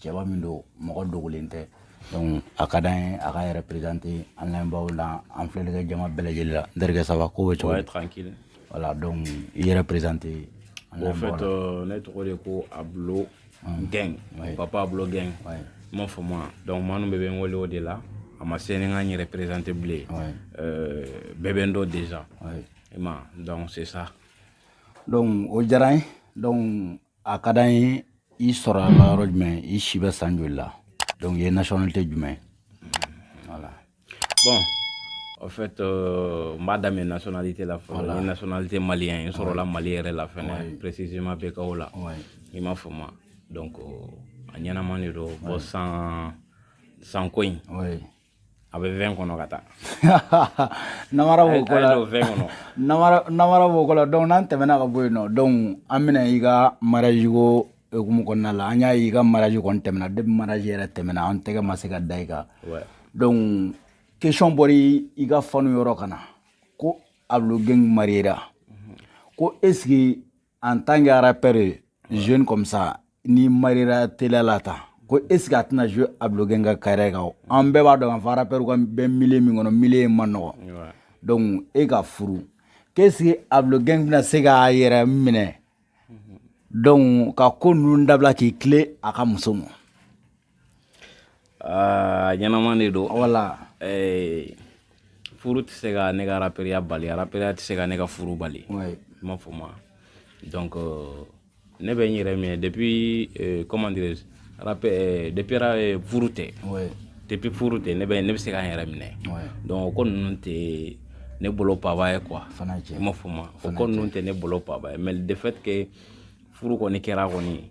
cɛba min don mɔgɔ dogolen tɛ donc a ka d'an ye a k'a yɛrɛ présenter an lamɛnbaaw la an filɛlikɛ jama bɛɛ lajɛlen la n terikɛ ça va ko bɛ cogo tranquille voilà donc i yɛrɛ présenter en fait euh, ne tɔgɔ de ko ablo mm. gang ouais. papa ablo gang ouais. i m'a fɔ ma donc maa ninnu bɛɛ bɛ n wele o de la a ma se ne ka n yɛrɛ présenter bilen ouais. euh, bɛɛ bɛ n dɔn déjà ouais. ma donc c'est ça donc o diyara n ye donc a ka d'an ye i sɔrɔla yɔrɔ jumɛn i si bɛ san joli la donc i ye nationalité jumɛn voilà bon en fait euh, n b'a daminɛ nationalité la fɔlɔ voilà. n ye nationalité malien ye n sɔrɔla mali yɛrɛ la fɛnɛ ouais. précisément BKO la ouais. i m'a fɔ ma donc euh, a ɲɛnaman de don bon san ko in ouais. A bɛ vingt kɔnɔ ka taa namara b'o ko la vingt kɔnɔ namara b'o ko la donc n'an tɛmɛna ka bɔ yen nɔ donc an bɛna i ka mariage ko hukumu kɔnɔna la an y'a ye i ka mariage kɔni tɛmɛna depuis mariage yɛrɛ tɛmɛna an tɛgɛ ma se ka da i kan donc question bɔra i ka fanw yɔrɔ ka na ko Ablo Gang mariera ko est ce que en tant que rappeur jeune comme ça n'i mariera teliya la tan ko est ce que a tɛna jouer ablo gang ka carrière kan o an bɛɛ b'a dɔn k'a fɔ rappeur ka bɛ milieu min kɔnɔ milieu in ma nɔgɔ donc e ka furu qu'est ce que ablo gang bɛna se k'a yɛrɛ minɛ donc ka ko ninnu dabila k'i tilen a ka muso ma aa ɲɛnaman de don voilà ɛɛ furu tɛ se ka ne ka araperiya bali araperiya tɛ se ka ne ka furu bali i m'a fɔ ma donc euh, ne bɛ n yɛrɛ minɛ depuis euh, comment dirais je euh, depuis furu tɛ depuis furu tɛ ne bɛ ne bɛ se ka n yɛrɛ minɛ donc o ko ninnu tɛ ne bolo paba ye quoi i m'a fɔ ma o ko ninnu tɛ ne bolo paba ye mais de fait que furu kɔni kɛra kɔni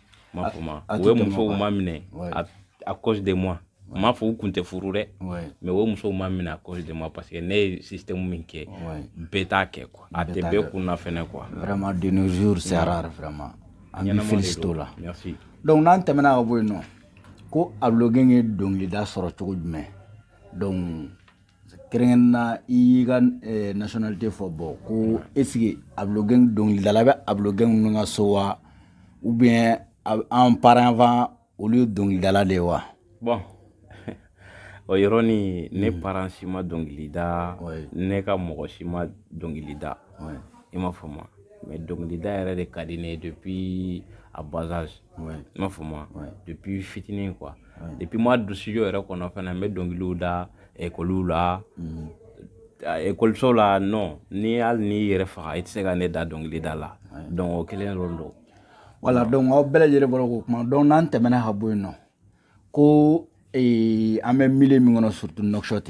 m'a fɔ ma u ye musow maminɛ à cause de moi n m'a fɔ u kun tɛ furu dɛ mais u ye musow maminɛ à cause de moi parce que ne ye système min kɛ bɛɛ t'a kɛ quoi a tɛ bɛɛ kun na fɛnɛ quoi vraiment de nos jours c'est rare vraiment an b'i féliciter o la donc n'an tɛmɛna ka bɔ yen nɔ ko ablo gang ye dɔnkilida sɔrɔ cogo jumɛn donc kɛrɛnkɛrɛn na i y'i ka eh, nationalité fɔ bon ko est ce que ablo gang dɔnkilidala bɛ ablo gang ninnu ka so wa ou bien an parents avant olu ye dɔnkilidala de ye wa bon o yɔrɔ ni ne hmm. parent si ma dɔnkili da ne ka mɔgɔ si ma dɔnkili da i m'a fɔ ma mais dɔnkilida yɛrɛ de ka di ne ye depuis à bas âge i m'a fɔ ma depuis fitinin quoi depuis n ma don studio yɛrɛ kɔnɔ fana n bɛ dɔnkiliw da ekɔliw la ekɔliso la non ni hali n'i yɛrɛ faga i tɛ se ka ne dan dɔnkilida la donc o kelen dɔrɔn don voilà donc aw bɛɛ lajɛlen bɔra k'o kuma donc n'an tɛmɛna ka bɔ yen nɔ ko an bɛ milieu min kɔnɔ surtout Nouakchott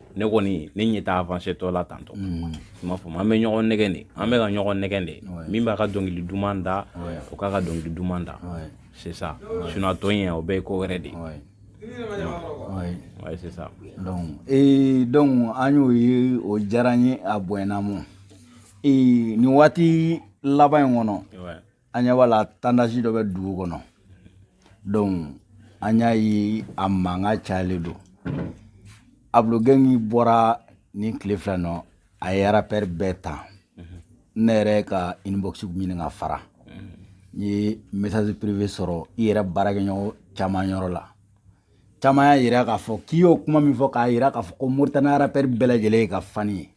ne kɔni ne ɲɛ t'a avancé tɔ la tantɔ mm. i m'a faamu an bɛ ɲɔgɔn nɛgɛn de an bɛ ka ɲɔgɔn nɛgɛn de min b'a ka dɔnkili duman da o k'a ka dɔnkili duman da c'est ça sinon a tɔ in o bɛɛ ye ko wɛrɛ de ye ouais c'est ça donc ee donc an y'o ye o diyara n ye a bonyana mɔ ee nin waati laban in kɔnɔ an ɲɛ b'a la tendance dɔ bɛ dugu kɔnɔ donc an y'a ye a mankan cayalen don Ablo Gang bɔra nin tile fila nɔ a ye arapɛri bɛɛ ta ne yɛrɛ ka inbox ɲini ka fara n ye message privé sɔrɔ i yɛrɛ baarakɛɲɔgɔn caman yɔrɔ la caman y'a yira k'a fɔ k'i y'o kuma min fɔ k'a yira k'a fɔ ko moritani arapɛri bɛɛ lajɛlen ye i ka fani ye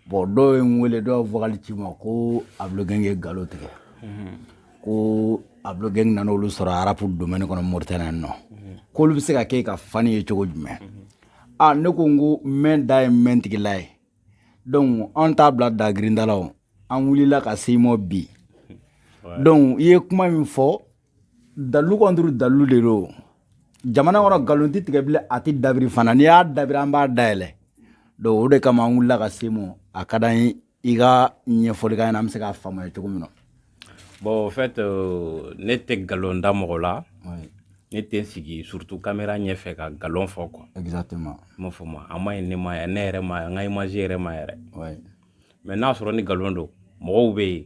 bon dɔw ye n wele dɔw vocal ci n ma ko Ablo Gang ye galon tigɛ mhm. ko Ablo Gang nana olu sɔrɔ arapu domaine kɔnɔ moritani yan nɔ mhm. k'olu bɛ se ka kɛ a ka fani ye cogo jumɛn mhm. a ne ko n ko mɛn da ye mɛn tigila ye donc an t'a bila da girinda la o an wulila ka se mɔ bi donc i ye kuma min fɔ dalilu contre dalilu de don jamana kɔnɔ nkalon tɛ tigɛ bilen a tɛ dabiri fana n'i y'a dabiri an b'a dayɛlɛ donc o de kama an wulila ka se mɔ a ka d'an ye i ka ɲɛfɔli k'an ɲɛna an bɛ se k'a faamuya cogo min na bon en fait euh, ne tɛ nkalon da mɔgɔ la ne tɛ n sigi surtout kamera ɲɛfɛ ka nkalon fɔ quoi exactement i m'a faamu a ma ɲi ne ma ne yɛrɛ ma n ka image yɛrɛ ma yɛrɛ mais n'a sɔrɔ ni nkalon don mɔgɔw bɛ yen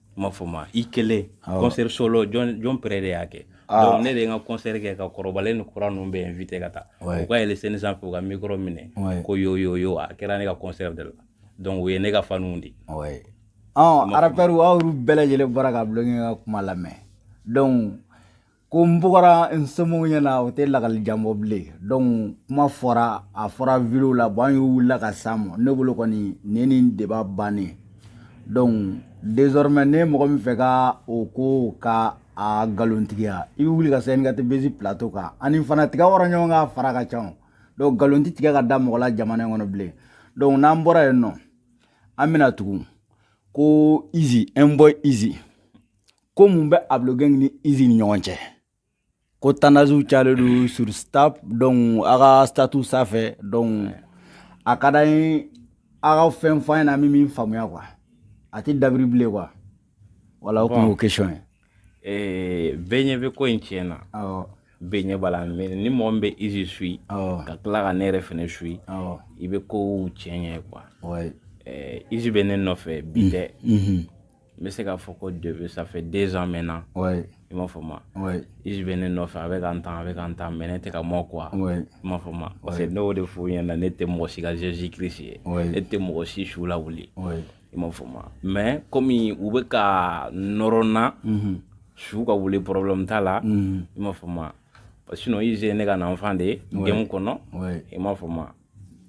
m'a faamu i kelen concert solo jɔn jɔn pere de y'a kɛ ah. donc ne de ye n ka concert kɛ ka kɔrɔbalen ni kura ninnu bɛɛ invité ka taa u ka yɛlɛ scène sanfɛ u ka micro minɛ ko yo yo yo a kɛra ne ka concert de la donc u ye ne ka faniw di ɔn arapɛriw aw y'olu bɛɛ lajɛlen bɔra ka Ablo ka kuma lamɛn donc ko n bugɔra n somɔgɔw ɲɛna o tɛ lakali jan bɔ bilen donc kuma fɔra a fɔra video la bon an y'u wulila ka s'a ma ne bolo kɔni nin nin débat bannen donc désormais ni mɔgɔ min fɛ ka o ko ka a galontigiya i bɛ wuli ka se NKT Buzz plateau kan ani fana tiga wɔrɔ ɲɔgɔn kan a fara ka ca donc galon tɛ tigɛ ka da mɔgɔ la jamana in kɔnɔ bilen donc n'an bɔra yen nɔ an bɛna tugun ko Easy Boy Easy ko mun bɛ ablo gang ni izi ni ɲɔgɔn cɛ ko tendancew cayalen don sur snap donc a ka statut sanfɛ donc a ka d'an ye a ka fɛn fɔ an ɲɛna an bɛ min faamuya quoi a tɛ dabiri bilen quoi voilà o tun y'o question ye eh, bɛɛ ɲɛ bɛ ko in tiɲɛ na bɛɛ ɲɛ b'a la mais ni mɔgɔ min bɛ izi suit ka tila ka ne yɛrɛ fɛnɛ suit i bɛ kow tiɲɛ ye quoi izi bɛ ne nɔfɛ bi tɛ n bɛ se k'a fɔ ko depuis ça fait deux ans maintenant ouais. i m'a fɔ ma ouais. izi bɛ ne nɔfɛ a bɛ ka n tan a bɛ ka n tan mais ne tɛ ka mɔ quoi ouais. i m'a fɔ ma parce que ne y'o de f'u ɲɛna ne tɛ mɔgɔ si ka jésus christ ye ouais. ne tɛ mɔgɔ si su lawuli ouais. i m'a fɔ ma mais komi u bɛ ka nɔrɔ n na mm -hmm. su ka wuli problème t'a la mm -hmm. i m'a fɔ ma sinon izi ye ne ka enfant de ye ouais. game kɔnɔ ouais. i m'a fɔ ma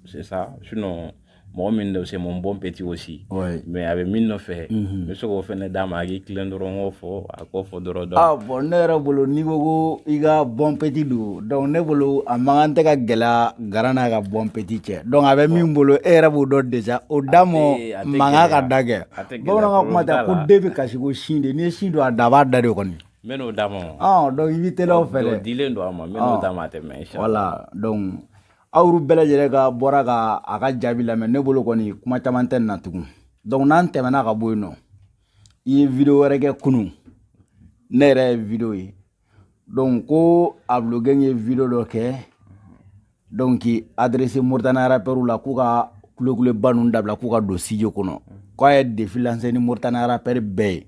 c'est ça sinon mɔgɔ min de c'est mon bon petit aussi ouais. mais a bɛ min nɔfɛ mm -hmm. n bɛ se k'o fɛnɛ d'a ma a k'i tilen dɔrɔn k'o fɔ a k'o fɔ dɔrɔn dɔn ah bon ne yɛrɛ bolo n'i ko ko i ka bon petit don donc ne bolo a man kan tɛ ka gɛlɛya grand n'a ka bon petit cɛ donc a bɛ min bolo e yɛrɛ b'o dɔn déjà o da mɔ mankan ka da kɛ bamananw ka kuma tɛ ko den bɛ kasi ko sin de n'i ye sin don a da a b'a da de kɔni n bɛ n'o d'a ma donc i bɛ teliya o fɛ dɛ dilen don a ma n bɛ n'o d'a ma a tɛ mɛɛn voilà donc aw bɛɛ lajɛlen ka bɔra ka a ka jaabi lamɛn ne bolo kɔni kuma caman tɛ na tugun donc n'an tɛmɛna ka bɔ yen nɔ i ye video wɛrɛ kɛ kunun ne yɛrɛ ye video ye donc ko ablo gang ye video dɔ kɛ donc k'i adressé mauritanie rappeurw la k'u ka kulekuleba ninnu dabila k'u ka don studio kɔnɔ k'a ye défi lancé ni mauritanie rappeur bɛɛ ye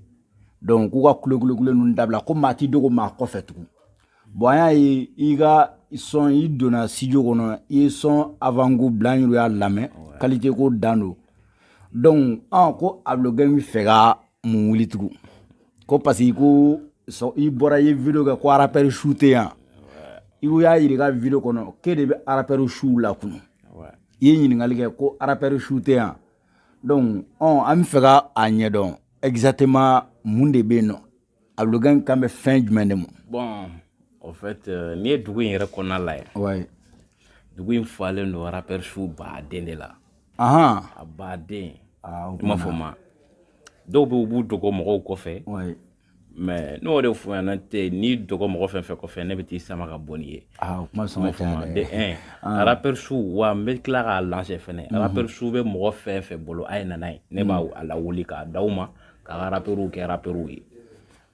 donc k'u ka kulekulekule ninnu dabila ko maa ti dogo maa kɔfɛ tugun bon an y'a ye i ka son i donna studio kɔnɔ i ye son avant-goût bila an yɛrɛ y'a lamɛn qualité ko dan don donc an ko ablo gang bɛ fɛ ka mun wuli tugun ko parce que ko i bɔra i ye video kɛ ko rappeur su tɛ yan i y'a yira i ka video kɔnɔ k'e de bɛ rappeur suw lakunu i ye ɲininkali kɛ ko rappeur su tɛ yan donc an bɛ fɛ ka a ɲɛdɔn exactement mun de bɛ yen nɔ Ablo gang kan bɛ fɛn jumɛn de ma bon en fait n'i ye dugu in yɛrɛ kɔnɔna lajɛ dugu in falen don rappeur suw ba den de la ɔn a ba den i m'a fɔ ma dɔw bɛ u b'u dogo mɔgɔw kɔfɛ mais n'o de fɔ yan tɛ n'i dogo mɔgɔ fɛn fɛn kɔfɛ ne bɛ t'i sama ka bɔ n'i ye rappeur suw wa n bɛ tila k'a la fana rappeur suw bɛ mɔgɔ fɛn fɛn bolo a ye na n'a ye ne b'a lawuli k'a di aw ma ka ka rapɛriw kɛ rapɛriw ye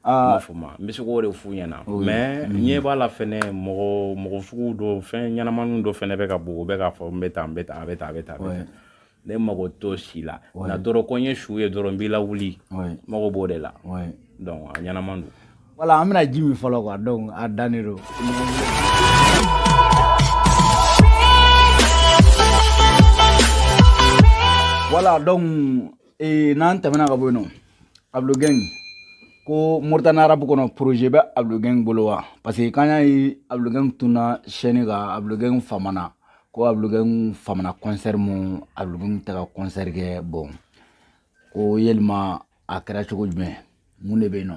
m'a faamu n bɛ se k'o de f'u ɲɛna mais n ɲɛ b'a la fɛnɛ mɔgɔ mɔgɔ sugu dɔ fɛn ɲɛnamaniw dɔ fɛnɛ bɛ ka bɔ o bɛ k'a fɔ n bɛ tan n bɛ tan a bɛ tan a bɛ tan ne mago t'o si la na dɔrɔn ko n ye su ye dɔrɔn n b'i lawuli mago b'o de la donc a ɲɛnama don voilà an bɛna ji min fɔlɔ quoi donc a dannen don voilà donc ee n'an tɛmɛna ka bɔ yen nɔ Ablo Gang ko moritani arapu kɔnɔ projet bɛ Ablo Gang bolo wa parce que k'an y'a ye Ablo Gang tunna scène kan Ablo Gang famana ko Ablo Gang famana kɔnsɛri ma Ablo Gang tɛ ka kɔnsɛri kɛ bon ko yelima a kɛra cogo jumɛn mun de bɛ yen nɔ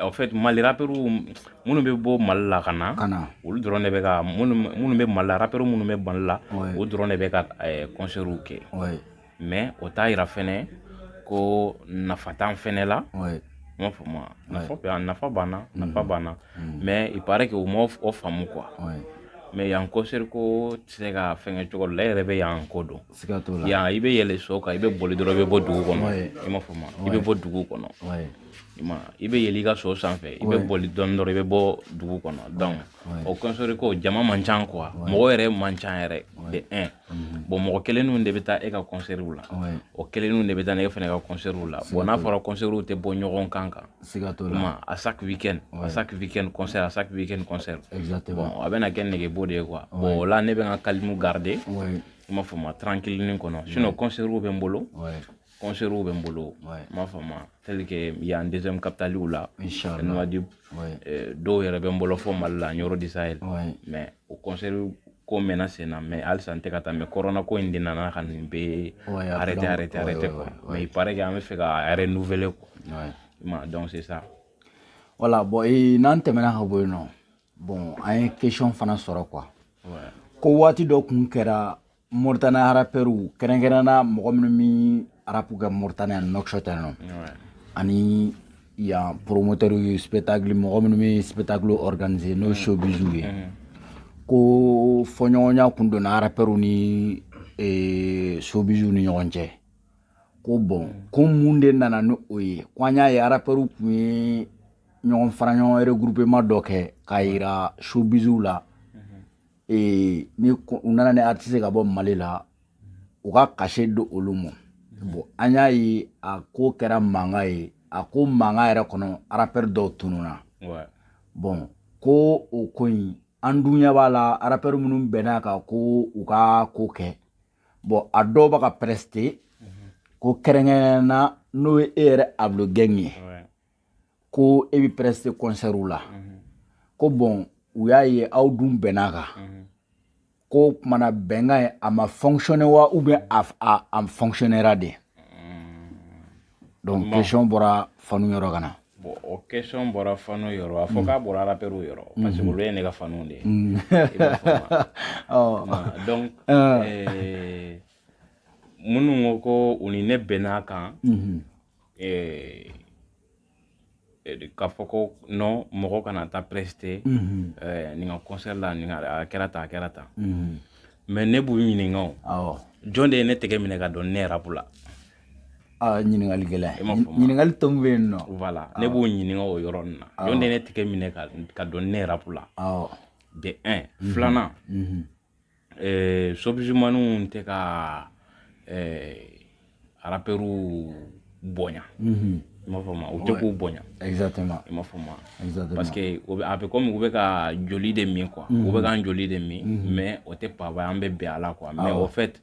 en fait mali rappeur minnu bɛ bɔ mali la ka na olu dɔrɔn de bɛ ka minnu bɛ mali la rappeur minnu bɛ mali la olu dɔrɔn de bɛ ka kɔnsɛriw kɛ mais o t'a yira fɛnɛ ko nafa t'an fɛnɛ la m'a faamu nafa bɛ yan nafa b'an na nafa b'an na mais il paraît que o ma o faamu quoi mais yan kɔnsɛri ko tɛ se ka fɛnkɛ cogo dɔ la e yɛrɛ bɛ yan ko dɔn siga t'o la yan i bɛ yɛlɛ so kan i bɛ boli dɔrɔn i bɛ bɔ dugu kɔnɔ i m'a faamu i bɛ bɔ dugu kɔnɔ i ma i bɛ yɛlɛ i ka so sanfɛ i bɛ boli dɔɔni dɔrɔn i bɛ bɔ dugu kɔnɔ donc o kɔnsɛri ko jama man ca quoi mɔgɔ yɛrɛ man ca yɛrɛ de un mhm. bon mɔgɔ kelenninw de bɛ taa e ka kɔnsɛriw la o kelenninw de bɛ taa ne fana ka kɔnsɛriw la bon n'a fɔra kɔnsɛriw tɛ bɔ ɲɔgɔn kan kan siga t'o la ma à chaque weekend à chaque weekend concert à chaque weekend concert exactement bon a bɛna kɛ nɛgɛbo de ye quoi bon o la ne bɛ n ka calme garder i m'a faamu tranquille kɔnɔ sinon concertw bɛ n bolo concertw bɛ n bolo m'a faamu tel que yan deuxième capitale la Nouadhibou dɔw yɛrɛ bɛ n bolo fɔ Mali la Nioro du Sahel mais o concert ko mɛnna sen na mais halisa n tɛ ka taa mais corona ko in de nana ka nin bɛɛ arrêter arrêter arrêter quoi mais il paraît que an bɛ fɛ ka renouveler quoi i ma donc c'est ça voilà bon n'an tɛmɛna ka bɔ yen nɔ bon an ye question fana sɔrɔ quoi ko waati dɔ kun kɛra moritani arapɛriw kɛrɛnkɛrɛnna mɔgɔ minnu mi arapu kɛ moritani ani Nouakchott yan nɔ ani yan promoteurs de spectacle mɔgɔ minnu bɛ spectacle organiser n'o showbiziw ye ko fɔɲɔgɔnya kun donna arapɛriw ni showbiziw ni ɲɔgɔn cɛ ko bon ko mun de nana ni o ye ko an y'a ye arapɛriw kun ye ɲɔgɔn fara ɲɔgɔn regroupement dɔ kɛ k'a yira showbiziw la ee ni u nana ni artiste ka bɔ mali la u ka cachet di olu ma bon an y'a ye a ko kɛra mankan ye a ko mankan yɛrɛ kɔnɔ arapɛr dɔw tununa bon ko o ko in an dun ɲɛ b'a la arapɛr minnu bɛnn'a kan ko u ka ko kɛ bon a dɔw bɛ ka preste ko kɛrɛnkɛrɛnna n'o ye e yɛrɛ abulogɛn ye ko e bɛ preste kɔnsɛriw la ko bɔn u y'a ye aw dun bɛnn'a kan ko kumana bɛnkan ye a ma fonctionner wa ou bien a, a, a fonctionnera de donc bon. question bɔra fanw yɔrɔ ka na bon o question bɔra fanw yɔrɔ a fɔ k'a bɔra rapɛriw yɔrɔ mm-hmm. parce que olu ye ne ka fanw de ye donc minnu ko ko u ni ne bɛnn'a kan mm-hmm. eh, eh, k'a fɔ ko non mɔgɔ kana taa preste mm -hmm. eh, nin ka concert la nin a kɛra tan a kɛra tan mm -hmm. mais ne b'u ɲininka o awɔ jɔn de ye ne tɛgɛ minɛ ka don ne rapu la ah, ɲininkali gɛlɛn ɲininkali tɔmu bɛ yen nɔ voilà ne b'u ɲininka o yɔrɔ nin na jɔn de ye ne tɛgɛ minɛ ka don ne rapu la awɔ de un filanan eh, showbizmanw tɛ ka eh, arapɛriw bonya mhm. i m'a faamu u tɛ k'u bonya exactement i m'a faamu exactement parce que o bɛ a bɛ komi u bɛ k'an joli de min quoi u bɛ mhm. k'an joli de min mhm. mais o tɛ paba an bɛ bɛn a la quoi mais au fait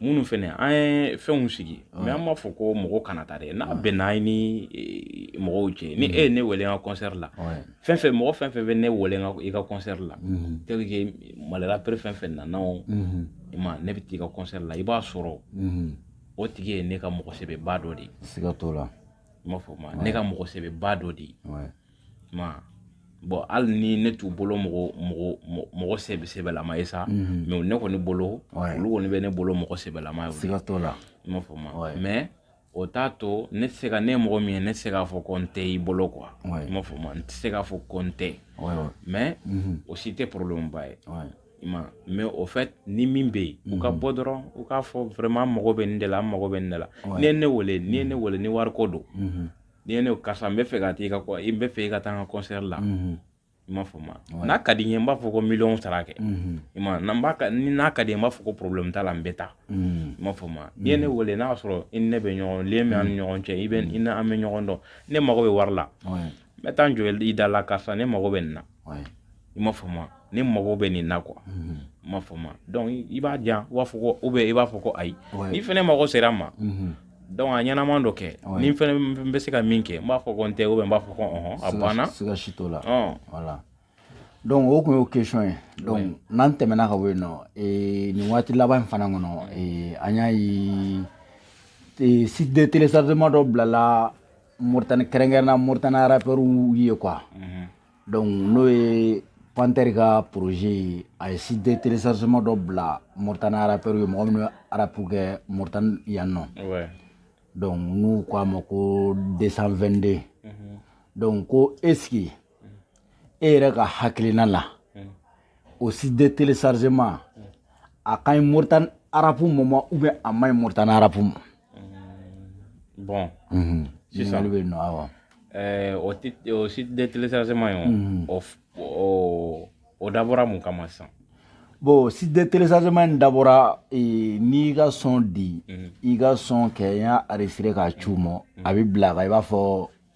minnu fana an ye fɛnw sigi mais an m'a fɔ ko mɔgɔ kana taa dɛ n'a bɛnna ye ni e, mɔgɔw cɛ ni e ye ne wele ka kɔnsɛri la fɛn fɛn mɔgɔ fɛn fɛn bɛ ne wele i ka kɔnsɛri la tel que mali rappeur fɛn fɛn nana o ma ne bɛ taa i ka kɔnsɛri la i b'a sɔrɔ o tigi ye ne ka mɔgɔ sɛbɛba dɔ de ye siga t'o la i m'a faamu ne ka mɔgɔ sɛbɛba dɔ de ye ma bon hali ni ne t'u bolo mɔgɔ mɔgɔ mɔgɔ sɛbɛ sɛbɛlama ye sa mhm. mais ne kɔni bolo olu kɔni bɛ ne bolo mɔgɔ sɛbɛlama ye siga t'o la i m'a faamu mais o t'a to ne tɛ se ka ne ye mɔgɔ min ye ne tɛ se k'a fɔ ko n tɛ i bolo quoi i m'a faamu n tɛ se k'a fɔ ko n tɛ mais mhm. o si tɛ problème ba ye i ma mais au fait ni min bɛ yen u ka mhm. bɔ dɔrɔn u k'a fɔ vraiment n mago bɛ nin de la an mago bɛ nin de la n'i ye ne wele n'i ye ne wele ni wariko don n'i ye ne ko karisa n bɛ fɛ ka taa i ka kɔ- n bɛ fɛ i ka taa n ka concert la Mhm. i m'a faamu n'a ka di n ye n b'a fɔ ko miliyɔn sara kɛ Mhm. i ma n'an b'a ka ni n'a ka di n ye n b'a fɔ ko problème t'a la n bɛ taa Mhm. i m'a faamu n'i ye ne wele n'a y'a sɔrɔ i ni ne bɛ ɲɔgɔn lien bɛ an ni ɲɔgɔn cɛ i bɛ i ni an bɛ ɲɔgɔn dɔn ne mago bɛ wari la Ouais. n bɛ taa n jɔ i da la karisa ne mago bɛ nin na i m'a fɔ ma ne mago bɛ nin na quoi mhm. i m'a fɔ ma donc i b'a di b'a fɔ ko ou bien i b'a fɔ ko ayi ni fana mago sera n ma mhm. donc a ɲɛnaman dɔ kɛ ni fana bɛ se ka min kɛ n b'a fɔ ko n tɛ ou bien n b'a fɔ ko a banna voilà donc o tun y'o question ye donc n'an tɛmɛna ka bɔ yen nɔ eh, nin waati laban in fana kɔnɔ eh, an y'a ye eh, site de téléchargement dɔ bilala Mauritanie kɛrɛnkɛrɛnna Mauritanie rappeurs ye quoi mhm. donc n'o ye Panther ka projet ye a ye site de téléchargement dɔ bila Mauritanie rappeurs ye mɔgɔ minnu bɛ rap kɛ Mauritanie yan nɔ donc n'u ko a ma ko 222 mhm. donc ko est ce que e yɛrɛ ka hakilina la o site de téléchargement a ka ɲi moritani arapu ma ou bien a man ɲi moritani arapu ma bon sisan bɛ yen nɔ awɔ o site de téléchargement ye o o dabɔra mun kama sisan bon site de téléchargement in dabɔra n'i ka son di i ka son kɛ n y'a enregistré k'a ci u ma a bɛ bila kan i b'a fɔ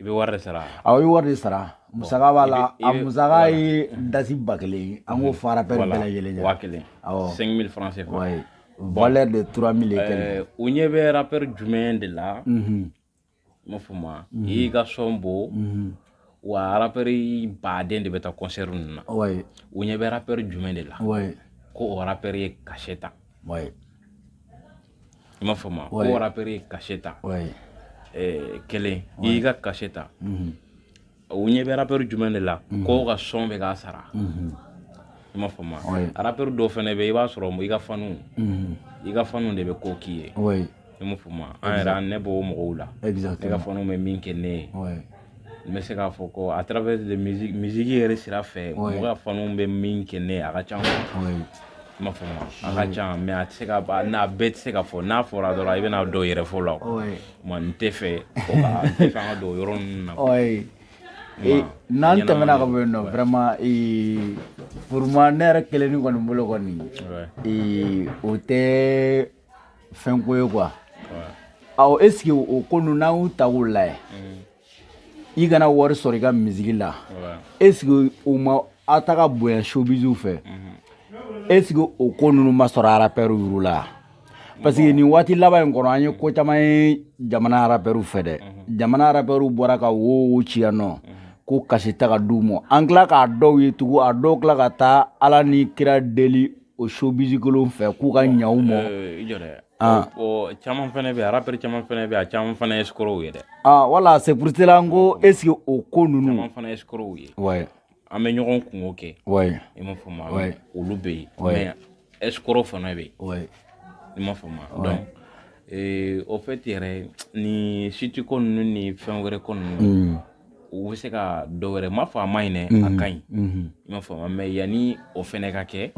i bɛ wari de sara awɔ i bɛ wari de sara musaka b'a la a musaka ye dasi ba kelen ye an k'o fara bɛɛ bɛɛ lajɛlen kan waa kelen awɔ cinq mille francs CFA ouais valeur de trois mille et quelques ɛɛ u ɲɛ bɛ rappeur jumɛn de la i m'a fɔ ma i y'i ka son bɔ wa rappeur baden de bɛ taa concert ninnu na ouais u ɲɛ bɛ rappeur jumɛn de la ouais ko o rappeur ye cachet ta ouais i m'a faamu ko o rappeur ye cachet ta eh, kelen i y'i ka cachet ta mhm. u ɲɛ bɛ rappeur jumɛn de la mhm. k'o ka son bɛ k'a sara mhm. i m'a faamu rappeur dɔw fɛnɛ bɛ i b'a sɔrɔ i ka fanu i ka fanu de bɛ ko k'i ye i m'a faamu an yɛrɛ an ne b'o mɔgɔw la i ka fanu bɛ min kɛ ne ye n bɛ se k'a fɔ ko à travers de musique musique yɛrɛ sira fɛ mɔgɔ ka fanuw bɛ min kɛ ne a ka ca i m'a faamu a ka ca mais a tɛ se ka n'a bɛɛ tɛ se ka fɔ n'a fɔra dɔrɔn i bɛna dɔw yɛrɛ fɔ la o ma n tɛ fɛ o ka n tɛ fɛ an ka don yɔrɔ ninnu na n'an tɛmɛna ka bɔ yen nɔ vraiment pour moi ne yɛrɛ kelen ni kɔni bolo kɔni o tɛ fɛn ko ye quoi ɔ est ce que o ko ninnu n'an y'u ta k'u lajɛ i kana wari sɔrɔ i ka musique la est ce que o ma aw ta ka bonya showbiziw fɛ est ce que o ko ninnu ma sɔrɔ arapɛriw yuru la parce que nin waati laban in kɔnɔ an ye ko caman ye jamana arapɛriw fɛ dɛ jamana arapɛriw bɔra ka woyo ci yan nɔ ko cachet tɛ ka d'u ma an tila k'a dɔw ye tugun a dɔw tila ka taa ala ni kira deli o showbiz kolon fɛ k'u ka ɲa u ma ah. caman fana bɛ arapɛri caman fana bɛ a caman fana ye escrocs ye dɛ ah, voilà c'est pour cela n ko est-ce que o ko ninnu fana ye escrocs ye an bɛ ɲɔgɔn kungo kɛ i m'a fɔ ma olu bɛ yen mais escrocs fana bɛ yen i m'a fɔ ma donc au fait yɛrɛ ni siti ko ninnu ni fɛn wɛrɛ ko ninnu hmm. u bɛ se ka dɔ wɛrɛ m'a fɔ a man ɲi dɛ a mhm. ka ɲi mhm. i m'a faamu mais yanni o fɛnɛ ka kɛ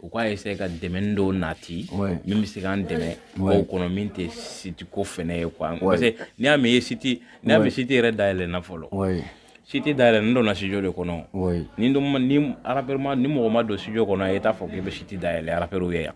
u k'a essayer ka dɛmɛni dɔw nati min bɛ se k'an dɛmɛ o kɔnɔ min tɛ siti ko fɛnɛ ye quoi parce que n'i y'a mɛn i ye siti n'i y'a mɛn siti yɛrɛ dayɛlɛnna fɔlɔ siti dayɛlɛ nin donna studio de kɔnɔ ni ni arapɛri ma ni mɔgɔ ma don studio kɔnɔ i t'a fɔ k'i bɛ siti dayɛlɛ arapɛriw ye yan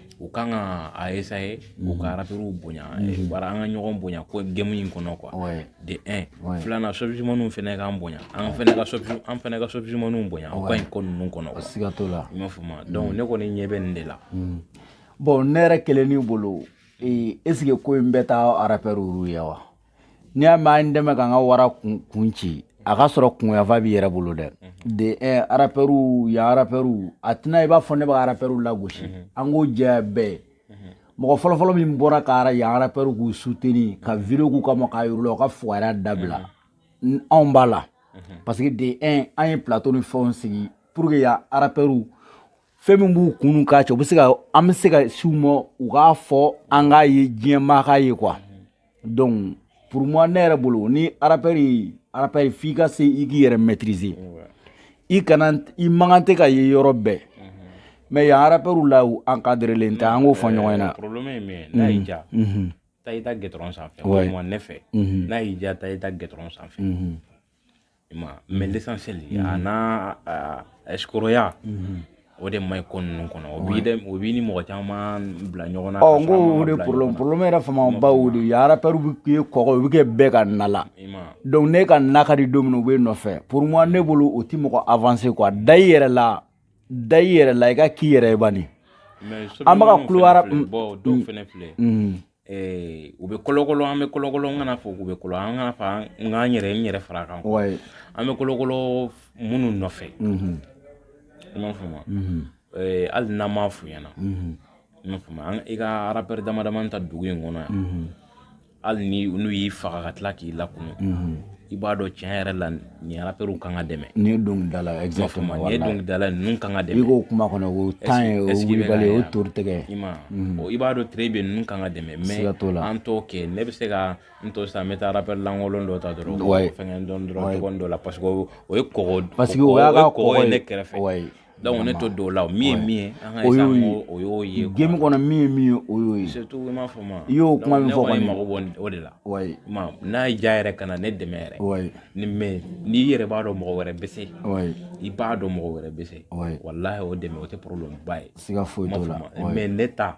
u kan ka a essayer u ka arapɛriw bonya bara an ka ɲɔgɔn bonya ko game in kɔnɔ quoi de un filanan showbizmanw fana k'an bonya an fana ka an fana ka showbizmanw bonya o ka ɲi ko ninnu kɔnɔ siga t'o la i m'a fɔ ma donc ne kɔni ɲɛ bɛ nin de la bon ne yɛrɛ kelen bolo est-ce que ko in bɛ taa arapɛriw ye wa n'i y'a mɛn an dɛmɛ k'an ka wara kun ci a ka sɔrɔ kunyafa b'i yɛrɛ bolo dɛ mhm. de eh, arapɛriw ya arapɛriw a tɛna i b'a fɔ ne bɛ arapɛriw lagosi mhm. an k'o jɛ bɛɛ mhm. mɔgɔ fɔlɔfɔlɔ min bɔra ka ara yan arapɛriw k'u soutenir ka video k'u kama k'a yir'u la u ka fugariya dabila anw b'a la parce que de un an ye plateau ni fɛnw sigi pour que ya arapɛriw fɛn min b'u kun k'a cɛ u bɛ se ka an bɛ se ka s'u ma u k'a fɔ an k'a ye diɲɛmaa k'a ye quoi donc pour moi ne yɛrɛ bolo ni arapɛri arapɛri f'i ka se i k'i yɛrɛ maîtriser i kana i man kan tɛ ka ye yɔrɔ bɛɛ mais yan arapɛriw la u encadrelen tɛ an k'o fɔ ɲɔgɔn ɲɛna problème ye min ye n'a y'i ja taa i ta gɛtɔrɔn sanfɛ walima ne fɛ n'a y'i ja taa i ta gɛtɔrɔn sanfɛ ma mais l'essentiel mm -hmm. a n'a ɛsikoroya mm -hmm. o de man ɲi ko ninnu kɔnɔ o b'i dɛ o b'i ni mɔgɔ caman bila ɲɔgɔn na ɔ n ko o de problème problème yɛrɛ fanba o de ye arapɛriw bɛ kɛ kɔgɔ o bɛ kɛ bɛɛ ka na la donc ne ka na ka di don min u bɛ nɔfɛ pour moi ne bolo o tɛ mɔgɔ avancer quoi da i yɛrɛ la da i yɛrɛ la i ka k'i yɛrɛ ye bani an bɛ ka kulo ara bon dɔw fana filɛ Eh, u bɛ kɔlɔkɔlɔ an bɛ kɔlɔkɔlɔ n kana fɔ u bɛ kɔlɔ an kana fɔ n k'an yɛrɛ n yɛrɛ fara kan an bɛ kɔlɔkɔlɔ minnu nɔfɛ i mhm. m'a fɔ ma mhm. eh, hali n'an m'a f'u ɲɛna mhm. i m'a fɔ ma i ka arapɛri dama dama ta dugu in kɔnɔ yan hali ni n'u y'i faga ka tila k'i lakunun i b'a dɔn tiɲɛ yɛrɛ la nin arapɛriw kan ka dɛmɛ nin ye dɔnkilidala ye exactement nin ye dɔnkilidala ye ninnu kan ka dɛmɛ i k'o kuma kɔnɔ o tan ye o wulibali o tori tɛgɛ i ma mhm. i b'a dɔn très bien ninnu kan ka dɛmɛ mais an t'o kɛ ne bɛ se ka n to sisan n bɛ taa arapɛri lankolon dɔ ta dɔrɔn fɛngɛ dɔn dɔrɔn tɔgɔ dɔ la parce que o ye kɔgɔ parce que o y'a ka kɔgɔ ye ne kɛrɛfɛ Donc ne to don la o min ye min o y'o ye game kɔnɔ min ye min ye o y'o ye m'a fɔ ma i y'o kuma min fɔ mago b'o de la n'a y'i diya yɛrɛ ka na ne dɛmɛ yɛrɛ mais n'i yɛrɛ b'a dɔn mɔgɔ wɛrɛ bɛ se i b'a dɔn mɔgɔ wɛrɛ bɛ se walahi o dɛmɛ o tɛ problème ba ye siga foyi t'o la mais ne taa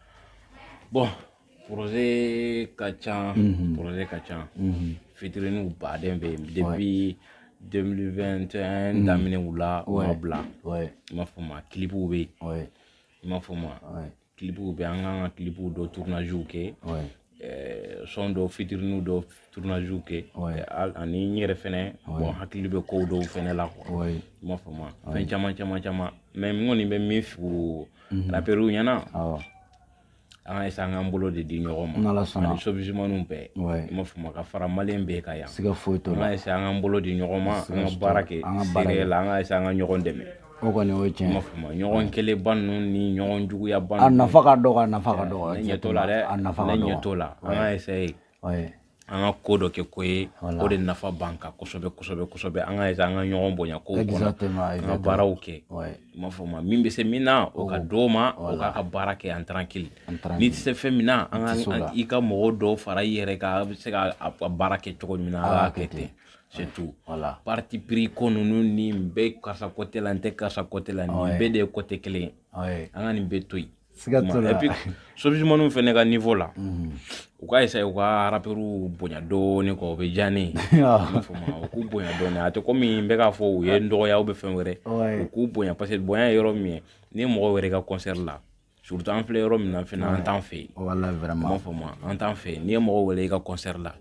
bon projet ka ca projet ka ca featuringw baden bɛ yen depuis 2021 daminɛw la u ma bila i m'a fɔ ma clipw bɛ yen i m'a fɔ ma clipw bɛ an kan ka clipw dɔ tournagew kɛ Eh, son dɔw featuringw dɔw tournage kɛ ani n yɛrɛ fɛnɛ bon hakili bɛ kow dɔw fɛnɛ la quoi i m'a faamu fɛn caman caman caman mais n kɔni bɛ min fɔ mhm. rapɛriw ɲɛna an ka essayer an k'an bolo de di ɲɔgɔn ma ani sobizimaniw bɛɛ i m'a faamu ka fara maliyɛn bɛɛ kan yan an ka essayer an k'an bolo di ɲɔgɔn ma an ka baara kɛ sérieux la an ka essayer an ka ɲɔgɔn dɛmɛ O kɔni o ye tiɲɛ ye. Ɲɔgɔn kɛlɛba ninnu ni ɲɔgɔn juguyaba ninnu. A nafa ka dɔgɔ a nafa ka dɔgɔ. Ne ɲɛ t'o la dɛ. A nafa ka dɔgɔ. Ne ɲɛ t'o la. An ka essayer. Oui. An ka ko dɔ kɛ ko ye. Voilà. O de nafa b'an kan kosɛbɛ kosɛbɛ kosɛbɛ. An ka essayer an ka ɲɔgɔn bonya kow kɔnɔ. Exactement exactement. An ka baaraw kɛ. Oui. I m'a fɔ ma min bɛ se min na o ka d'o ma. Voilà. O k'a ka baara kɛ en tranquille. En tranquille. N'i tɛ se fɛn min na. An ka i tɛ se o la. I ka mɔgɔ dɔw fara i yɛrɛ kan a' bɛ se ka a baara kɛ cogo min na. A' k'a kɛ ten. c'est tout voilà parti pris ko ninnu ni n bɛ karisa côté la n tɛ karisa côté la nin bɛɛ de ye côté kelen ye an ka nin bɛɛ to yen siga t'o la et puis sobizimaniw fɛnɛ ka niveau la mhm. u ka essayer u ka rapɛriw bonya dɔɔni quoi o bɛ diya ne ye u k'u bonya dɔɔni a tɛ komi n bɛ k'a fɔ u ye n dɔgɔya ou bien fɛn wɛrɛ u k'u bonya parce que bonya ye yɔrɔ min ye ni mɔgɔ wɛrɛ ka concert la surtout an filɛ yɔrɔ min na fana an t'an fɛ yen voilà vraiment m'a fɔ ma an t'an fɛ yen n'i ye mɔgɔ wele i ka concert la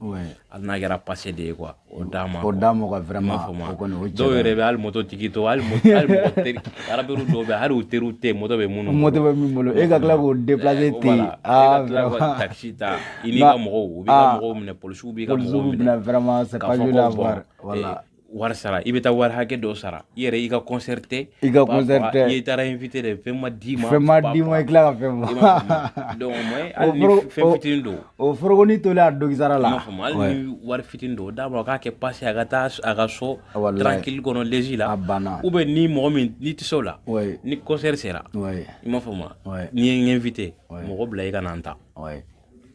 hali n'a kɛra passé de ye quoi o d'a ma o d'a ma quoi vraiment m'a fɔ ma dɔw yɛrɛ bɛ hali moto tigi to hali moto hali mɔgɔ teri rapɛriw dɔw bɛ hali u teriw tɛ moto bɛ minnu moto bɛ min bolo e ka tila k'o déplacer ten aa vraiment taxi ta i n'i ka mɔgɔw u b'i ka mɔgɔw minɛ polisiw b'i ka mɔgɔw minɛ polisiw b'i minɛ vraiment c'est pas joli à voir voilà wari sara i bɛ taa wari hakɛ dɔ sara i yɛrɛ i ka concert tɛ i ka concert tɛ i taara invité de fɛn ma d'i ma fɛn ma d'i ma i tila ka fɛn ma donc mais hali ni fɛn fitinin don o forokoni tolen a dogisara la hali ni wari fitinin don d'a ma k'a kɛ passe a ka taa a ka so tranquille kɔnɔ l'aise la a banna ou bien ni mɔgɔ min n'i tɛ se o la ni concert sera i m'a faamu wa n'i ye n invité mɔgɔ bila i ka na n ta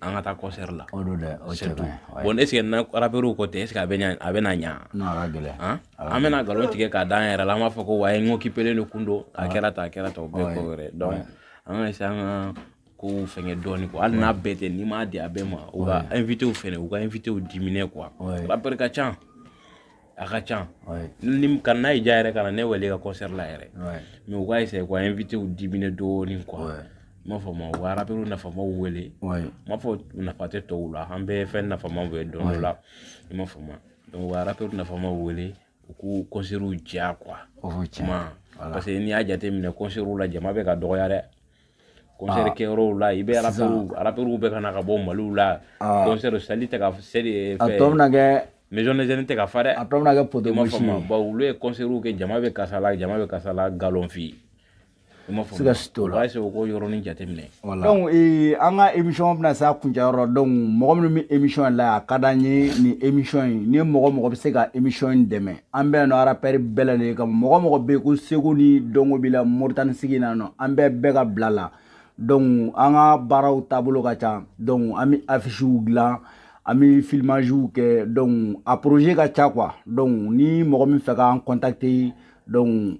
an ka taa concert la o don dɛ o cɛ ka ɲi bon est-ce que n'a rapɛriw ko tɛ est-ce a bɛ a bɛna ɲa gɛlɛn an bɛna nkalon tigɛ k'a da an yɛrɛ la an b'a fɔ ko ouais occupélen de kun don a kɛra tan a kɛra tan o bɛɛ ko wɛrɛ donc an ka essayer an ka kow fɛnkɛ dɔɔnin quoi hali n'a bɛɛ tɛ n'i m'a di a bɛɛ ma u ka invitéw fɛnɛ u ka invitéw diminuer quoi rapɛri ka ca a ka ca ni ka n'a y'i diya yɛrɛ kana ne wele i ka concert la yɛrɛ mais u ka essayer k'u invitéw diminuer dɔɔnin quoi i m'a faamu u ka rappeur nafamaw wele n m'a fɔ nafa tɛ tɔw la an bɛɛ fɛn nafamaw bɛ don dɔ la i m'a faamu donc u ka rappeur nafamaw wele u k'u concertw diya quoi kuma parce que n'i y'a jateminɛ concertw la jama bɛ ka dɔgɔya dɛ concert kɛyɔrɔw la i bɛ rappeurs rappeurs bɛ ka na ka bɔ Maliw la concert salle tɛ ka seli a tɔ bɛna kɛ maison des jeunes tɛ ka fa dɛ a tɔ bɛna kɛ poteau mouche ye bawo olu ye concert kɛ jama bɛ kasa la jama bɛ kasa la galon fi i m'a faamu siga si t'o la o b'a sɔrɔ k'o yɔrɔnin jateminɛ donc ee an ka émission bɛna se a kuncɛyɔrɔ donc mɔgɔ minnu bɛ émission la a ka d'an ye nin émission in ni mɔgɔ mɔgɔ bɛ se ka émission in dɛmɛ an bɛ yan nɔ rappeur bɛɛ lajɛlen kama mɔgɔ mɔgɔ bɛ yen ko seko ni dɔnko b'i la Moritani sigi na nɔ an bɛ bɛɛ ka bila la donc an ka baaraw taabolo ka ca donc an bɛ affichew dilan an bɛ filmagew kɛ donc a projet ka ca quoi donc ni mɔgɔ min fɛ k'an contacter donc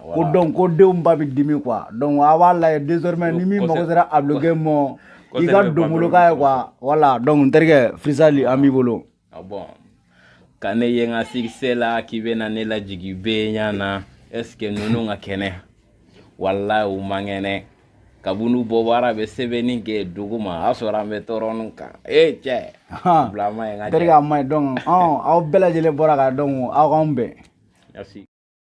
ko donc ko denw ba bɛ dimi quoi donc a b'a lajɛ désormais ni min mago sera a bulon kɛ mɔ i ka donboloka ye quoi voilà donc n terikɛ freestyle an b'i bolo ka ne ye n ka succès la k'i bɛna ne lajigin bɛɛ ɲa na est-ce que ninnu ka kɛnɛ wallahi u man kɛnɛ kabini u bɔ baara bɛ sɛbɛnni kɛ dugu ma a sɔrɔ an bɛ tɔɔrɔnin kan ee cɛ bila ma ye n ka terikɛ a ma ye donc aw bɛɛ lajɛlen bɔra ka donc aw k'an bɛn